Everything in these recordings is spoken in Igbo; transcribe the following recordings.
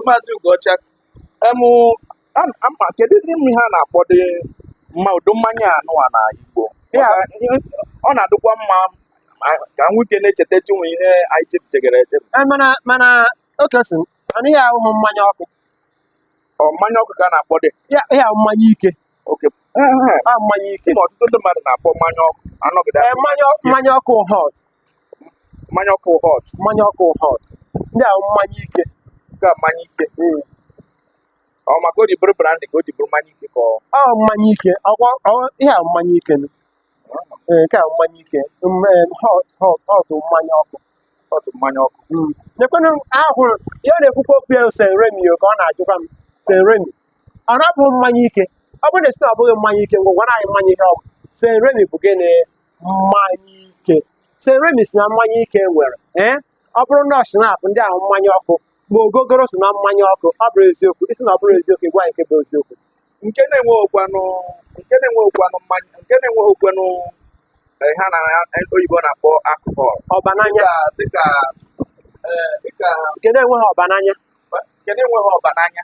maazị Ugocha emụ ama kedu dị m ihe a na-akpọdị mma ụdị mmanya nụwa na Igbo ọ na-adịkwa mma ka nwoke na-echeta chinwe ihe anyị chepụtegara echepụ e, mana mana Oke sị na ihe ahụ mmanya ọkụ mmanya ọkụ ka a na-akpọdị ihe ahụ mmanya ike oke Ee, ee, a mmanya ike ịma ọtụtụ ndị mmadụ na-akpọ mmanya ọkụ anọgide Ee, mmanya mmanya ọkụ hot mmanya ọkụ hot mmanya ọkụ hot ndị ahụ mmanya ike nke a mmanya ike ọ maka o ji bụrụ brandy ka o ji bụrụ mmanya ike ka ọ ọ mmanya ike ọkwa ọ- ihe a mmanya ike nụ. Ee, nke a mmanya ike Mm, ee, hot hot hot mmanya ọkụ hot mmanya ọkụ nekwanụ ahụrụ ya na-ekwukwa okwu ya St Remy ka ọ na-ajụkwa m St Remy ọ na-abụghị mmanya ike ọ bụrụ na ị sị na ọ bụghị mmanya ike ngwa gwara anyị mmanya ihe ọ bụ St Remy bụ gịnị mmanya ike St Remy so na mmanya ike nwere ee ọ bụrụ na ọ schnapp ndị ahụ mmanya ọkụ ma ogogoro so na mmanya ọkụ ọ bụrọ eziokwu ị sị na ọ bụrọ eziokwu ị gwa anyị nke bụ eziokwu nke na-enweghịkwanụ nke na-enweghịkwanụ mmanya nke na-enweghịkwanụ eh, ihe oyibo na-akpọ alcohol ọba n'anya dịka dịka eh, dịka nke na-enweghị ọba n'anya nke na-enweghị ọba n'anya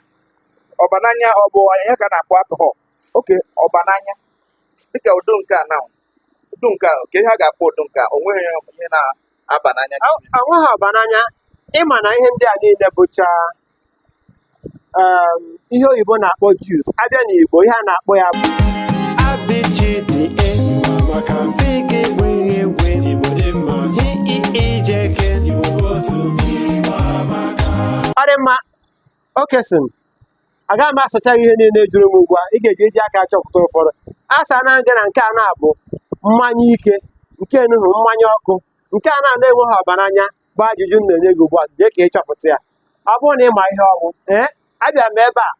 ọba n'anya ọ bụ ya ka a na-akpọ alcohol okay ọba n'anya dịka ụdị nke a na ụdị nke a kee ihe a ga-akpọ ụdị nke a o nweghị ihe na-aba n'anya o nweghị ọba n'anya ịma na ihe ndị a niile bụcha um, ihe oyibo na-akpọ juice a bịa n'igbo ihe a na-akpọ ya bụ ọ dị mma Oke sị na agaghị m asacha ihe niile a jụrụ m ugbu a ị ga-eji eji aka achọpụta ụfọdụ asana m gị na nke a na-abụ mmanya ike nke enuhu mmanya ọkụ nke a na na-enweghị ọba n'anya bụ ajụjụ m na-enye gị ugbu a jee ka ị chọpụta ya ọ bụrụ na ị ma ihe ọ bụ ee abịa m ebe a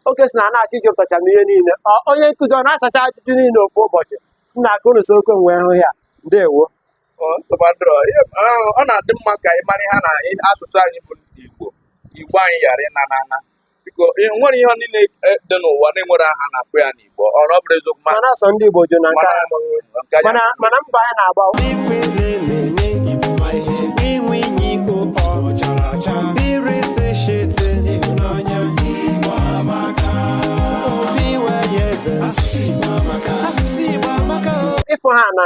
Oke ị sị na ị na-achọ ịjụtacha m ihe niile ọ onye nkụzi ọ na-asacha ajụjụ niile ofu ụbọchị m na-aka unu so okwe m wee hụ ya ndewo ọ na-adị mma ka ị mara ha na asụsụ anyị bụ Igbo Igbo anyị ghara ịna n'ana biko nwere ihe niile e, dị n'ụwa na-enwere aha a na-akpọ ya n'Igbo ọ na ọ bụrụ eziokwu mana asọ ndị Igbo jụ na nke mana mbọ anyị na-agba ịfụ ha na